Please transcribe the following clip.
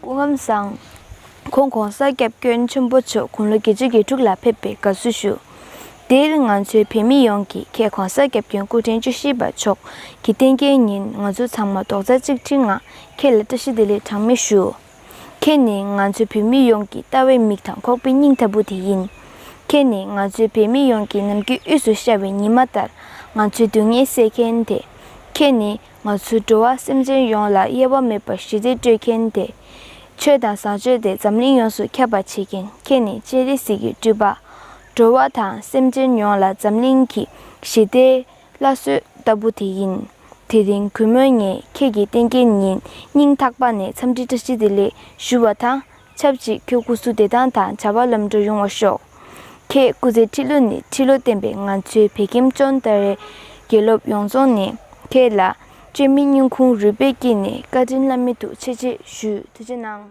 སྐུ་ངམ་བཟང། ཁོང་གོང་ས་སྐྱབས་སྐྱོན་ཆེན་པོ་མཆོག་དགུང་ལོ་བརྒྱད་ཅུ་གྱི་དྲུག་ལ་ཕེབས་པའི་དགའ་བསུ་ཞུ། འདིའི་རིང་ང་ཚོའི་བོད་མི་ཡོངས་ཀྱིས་ཁྱེད་གོང་ས་སྐྱབས་སྐྱོན་སྐུ་ཕྲེང་བཅུ་བཞི་པ་མཆོག་གི་རྟེན་སྐྱེལ་ཉིན་ང་ཚོ་ཚང་མ་རྡོག་རྩ་གཅིག་སྒྲིལ་ངང་ཁྱེད་ལ་བཀྲ་ཤིས་བདེ་ལེགས་གྲངས་མེད་ཞུ། ཁྱེད་ནི་ང་ཚོ་བོད་མི་ཡོངས་ཀྱི་ལྟ་བའི་མིག་དང་ཁོག་པའི་སྙིང་ལྟ་བུ་དེ་ཡིན། ཁྱེད་ནི་ང་ཚོའི་བོད་མི་ཡོངས་ཀྱི་ནམ་མཁའི་དབུས་སུ་ཤར་བའི་ཉི་མ་ལྟར་ང་ཚོའི་སྡུག་བསྔལ་སེལ་མཁན་དེ། ཁྱེད་ནི་ང་ཚོའི་འགྲོ་བ་སེམས་ཅན་ཡོངས་ལ་དབྱེ་བ་མེད་པར་ཞི་བདེ་སྤྲོད་མཁན་དེ། ཆོས་དང་བཟང་སྤྱོད་དེ་འཛམ་གླིང་ཡོངས་སུ་ཁྱབ་པར་བྱེད་མཁན་ཁྱེད་ནི་སྤྱན་རས་གཟིགས་ཀྱི་སྤྲུལ་པ། འགྲོ་བ་དང་སེམས་ཅན་ཡོངས་ལ་འཛམ་གླིང་གི་ཞི་བདེའི་བླ་སྲོལ་ལྟ་བུ་དེ་ཡིན། དེ་རིང་གུས་མོས་ངས་ཁྱེད་ཀྱི་བསྟན་རྒྱས་ཉིན་སྙིང་ཐག་པ་ནས་འཚམས་འདྲི་བཀྲ་ཤིས་བདེ་ལེགས་ཞུ་བ་དང་ཆབས་ཅིག་ཁྱོད་སྐུ་གཟུགས་བདེ་ཐང་དང་བྱ་བ་ལམ་འགྲོ་ཡོང་བར་ཤོག། ཁྱེད་སྐུ་ཚེ་ཁྲི་ལོ་ནས་ཁྲི་ལོ་བརྟན་པའི་ང་ཚོའི་བེ་ཀེམ་ཅོན་ཏཱ་རེ། དགེ་སློབ་ཡོངས་རྫོགས་ནས་ཁྱེད་ལ་བཅོས་མིན་སྙིང་ཁུང་རུས་པའི་དཀྱིལ་ནས་བཀའ་དྲིན་བླ་མེད་དུ་ཆེ་ཆེ་ཞུ་ཐུགས་ཆེ་གནང།